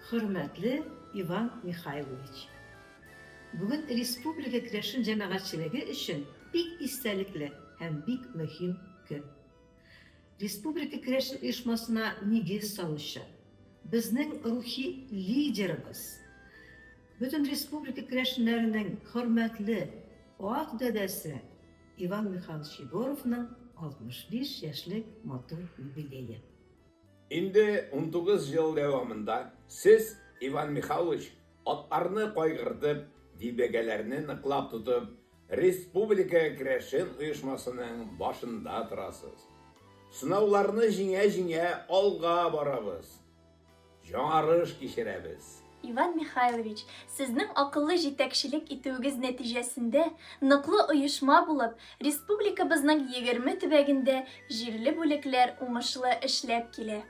Хөрмәтле Иван Михайлович! Бүген республика керәшен җәмәгатьчелеге өчен бик истәлекле һәм бик мөһим көн. Республика керәшен оешмасына нигез салучы, безнең рухи лидерыбыз, бөтен республика керәшеннәренең хөрмәтле ак дәдәсе Иван Михайлович Егоровның 65 яшьлек матур юбилее. Инде унтугыз ел дәвамында сез, Иван Михайлович, атларны кайгыртып, дибәгәләрне ныклап тотып, республика керәшен оешмасының башында торасыз. Сынауларны җиңә-җиңә алга барабыз. Яңарыш кичерәбез. Иван Михайлович, сезнең акыллы җитәкчелек итүегез нәтиҗәсендә, ныклы оешма булып, республикабызның егерме төбәгендә җирле бүлекләр уңышлы эшләп килә.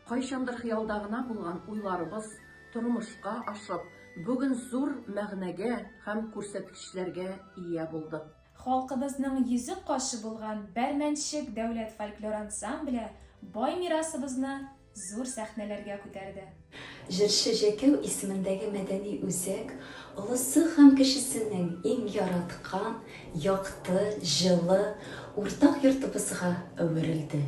Кайчандыр хыялда гына булган уйларыбыз тормышка ашып, бүген зур мәгънәгә һәм күрсәткечләргә ия булдык. Халкыбызның йөзек кашы булган Бәрмәнчек дәүләт фольклор ансамбле бай мирасыбызны Зур сәхнәләргә күтәрде. Җырчы Җәкәү исемендәге мәдәни үзәк олысы һәм кечесенең иң яраткан, якты, җылы, уртак йортыбызга әверелде.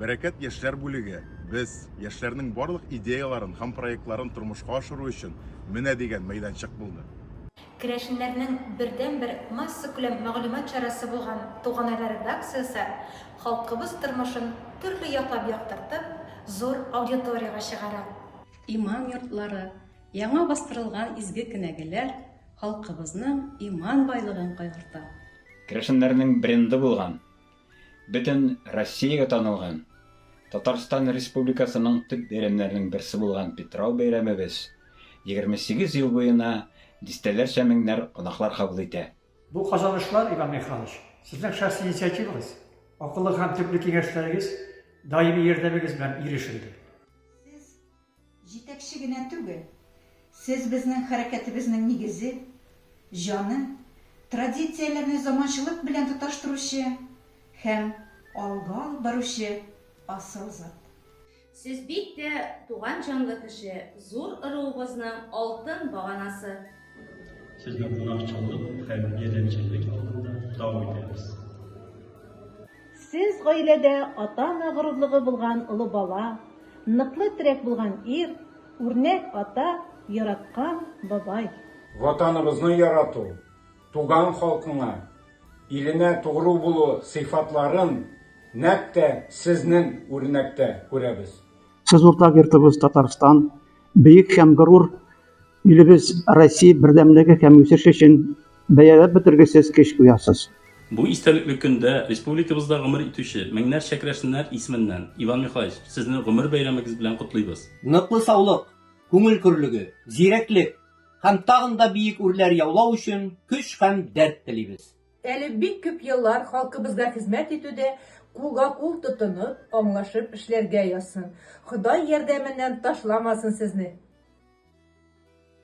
Бәрәкәт яшьләр бүлеге, без, яшьләрнең барлык идеяларын һәм проектларын тормышка ашыру өчен менә дигән мәйданчык булды. Керәшеннәрнең бердәнбер массакүләм мәгълүмат чарасы булган Туганайлар редакциясе халкыбыз тормышын төрле яклап яктыртып, зур аудиториягә чыгара. Иман йортлары, яңа бастырылган изге кенәгәләр халкыбызның иман байлыгын кайгырта. Керәшеннәрнең бренды булган Бөтен Россиягә танылган, Татарстан Республикасының төп бәйрәмнәренең берсе булган Питрау бәйрәмебез 28 ел буена дистәләрчә меңнәр кунаклар кабул итә. Бу казанышлар, Иван Михайлович, Сезнең шәхси инициативагыз, акыллы һәм төпле киңәшләрегез, даими ярдәмегез белән ирешелде. Сез Җитәкче генә түгел, сез безнең хәрәкәтебезнең нигезе, җаны, традицияләрне заманчылык белән тоташтыручы һәм алга алып баручы асыл зат. Сез бик тә туган җанлы кеше, зур ыруыбызның алтын баганасы. Сезне кунакчыллык һәм ярдәмчеллек алдында тау итәбез. Сез гаиләдә ата-ана горурлыгы булган олы бала, ныклы терәк булган ир, үрнәк ата, яраткан бабай. Ватаныбызны ярату, туган халкыңа, иленә тугру булу сыйфатларын нәкъ тә сезнең үрнәктә күрәбез. Сез уртак йортыбыз Татарстан, бөек һәм горур Илебез Россия бердәмлеге һәм үсеше өчен бәяләп бетергесез көч куясыз. Бу истәлекле көндә республикабызда гомер итүче меңнәрчә керәшеннәр исеменнән, Иван Михайлович, Сезне гомер бәйрәмегез белән котлыйбыз! Ныклы саулык, күңел көрлеге, зирәклек һәм тагын да биек үрләр яулау өчен көч һәм дәрт телибез! Әле бик күп еллар халкыбызга хезмәт итүдә кулга-кул тотынып, аңлашып эшләргә язсын. Ходай ярдәменнән ташламасын сезне!